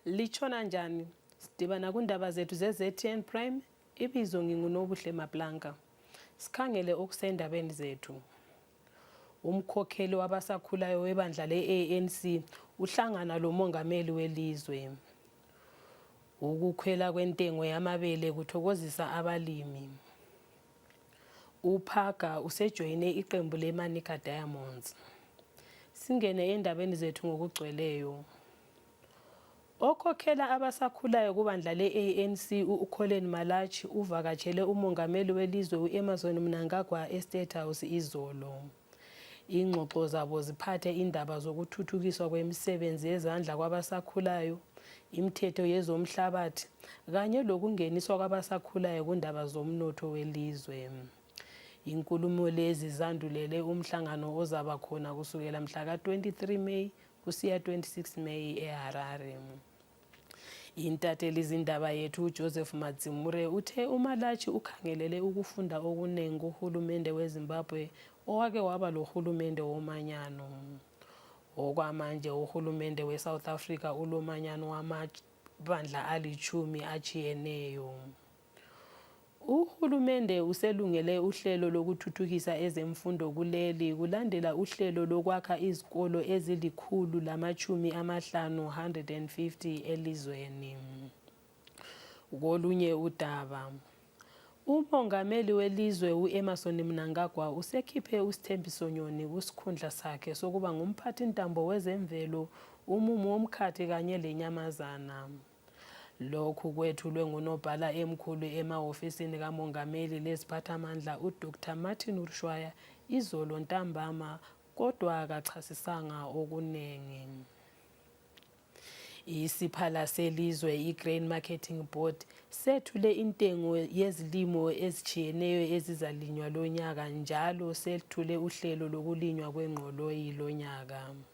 litshona njani sidibana kundaba zethu ze-ztn prime ibizo ngingunobuhle mablanka sikhangele okusendabeni zethu Umkhokheli wabasakhulayo webandla le-ANC uhlangana lomongameli welizwe. Ukukhwela kwentengo yamabele kuthokozisa abalimi. UPhaga usejoyine iqembu leManica Diamonds. Singene endabeni zethu ngokugcweleyo. Okhokhela abasakhulayo kubandla le-ANC u-Colin Malatshi uvakatshele umongameli welizwe u-Emerson Mnangagwa e-State House izolo. Ingxoxo zabo ziphathe indaba zokuthuthukiswa kwemisebenzi yezandla kwabasakhulayo, imithetho yezomhlabathi kanye lokungeniswa kwabasakhulayo kundaba zomnotho welizwe. Inkulumo lezi zandulele umhlangano ozaba khona kusukela mhla ka-23 May Kusiya 26 May eHarare. Intathelizindaba yethu uJoseph Madzimure uthe uMalatshi ukhangelele ukufunda okunengi kuhulumende weZimbabwe owake waba lohulumende womanyano. Okwamanje uhulumende weSouth Africa ulomanyano wamabandla alitshumi atshiyeneyo. Uhulumende uselungele uhlelo lokuthuthukisa ezemfundo kuleli kulandela uhlelo lokwakha izikolo ezilikhulu lamatshumi amahlanu 150 elizweni. Kolunye udaba umongameli welizwe u-emerson mnangagwa usekhiphe usithembiso nyoni kusikhundla sakhe sokuba ngumphathintambo wezemvelo umumo womkhathi kanye lenyamazana Lokhu kwethulwe ngunobhala emkhulu emahofisini kamongameli leziphathamandla uDr Martin Urshwaya izolo ntambama kodwa akachasisanga okuningi. Isiphala selizwe i-Grain Marketing Board sethule intengo yezilimo ezitshiyeneyo ezizalinywa lonyaka njalo sethule uhlelo lokulinywa kwengqoloyi lonyaka.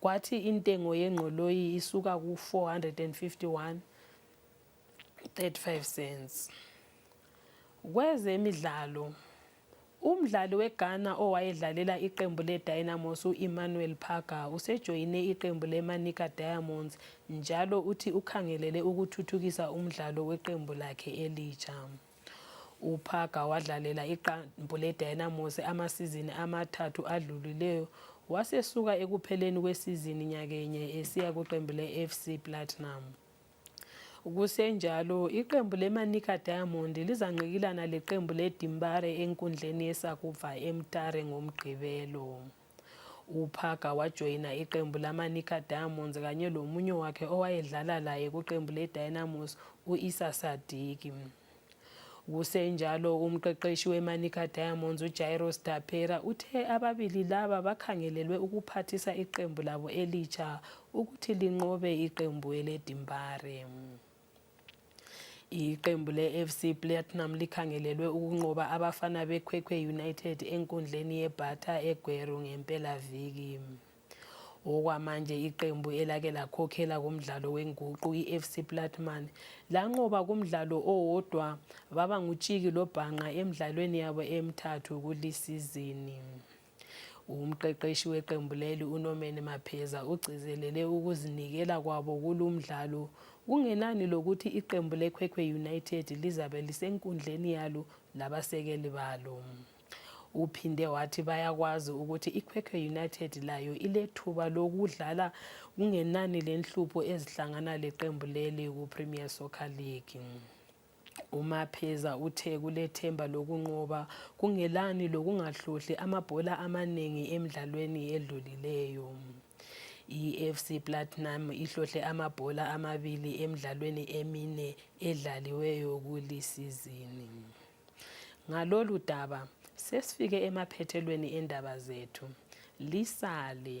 kwathi intengo yengqoloyi isuka ku-451 35 cents kwezemidlalo umdlali weghana owayedlalela iqembu ledynamos u-emmanuel parga usejoyine iqembu lemanica diamonds njalo uthi ukhangelele ukuthuthukisa umdlalo weqembu lakhe elitsha UPhaga wadlalela iqembu leDynamos amasizini amathathu adlulileyo wasesuka ekupheleni kwesizini nyakenye esiya kuqembu le-FC Platinum. Kusenjalo iqembu leManica Diamond lizanqikilana leqembu leDimbare enkundleni yeSakubva eMtare ngoMgqibelo. UPhaga wajoyina iqembu lamaNika Diamonds kanye lomunye wakhe owayedlala laye kuqembu leDynamos u-Isa Sadiki. Kusenjalo umqeqeshi weManica Diamonds uJairos Dapera uthe ababili laba bakhangelelwe ukuphathisa iqembu labo elitsha ukuthi linqobe iqembu eleDimbare. Iqembu le-FC Platinum likhangelelwe ukunqoba abafana beKhwekhwe United enkundleni yeBhatha eGweru ngempelaviki. Okwamanje iqembu elake lakhokhela kumdlalo wenguqu i-FC Platinum lanqoba kumdlalo owodwa baba ngutshiki lobhanqa emdlalweni yabo emithathu kulisizini. Umqeqeshi weqembu leli uNomeni Mapheza ugcizelele ukuzinikela kwabo kulumdlalo kungenani lokuthi iqembu leKhwekhwe United lizabe lisenkundleni yalo labasekeli balo. Uphinde wathi bayakwazi ukuthi iKhwekhwe United layo ilethuba lokudlala kungenani lenhlupho ezihlangana leqembu leli kuPremier Soccer League. UMapheza uthe kulethemba lokunqoba kungelani lokungahlohli amabhola amanengi emidlalweni edlulileyo. I-FC Platinum ihlohle amabhola amabili emidlalweni emine edlaliweyo kulisizini. Ngalolu daba sesifike emaphethelweni endaba zethu. Lisale.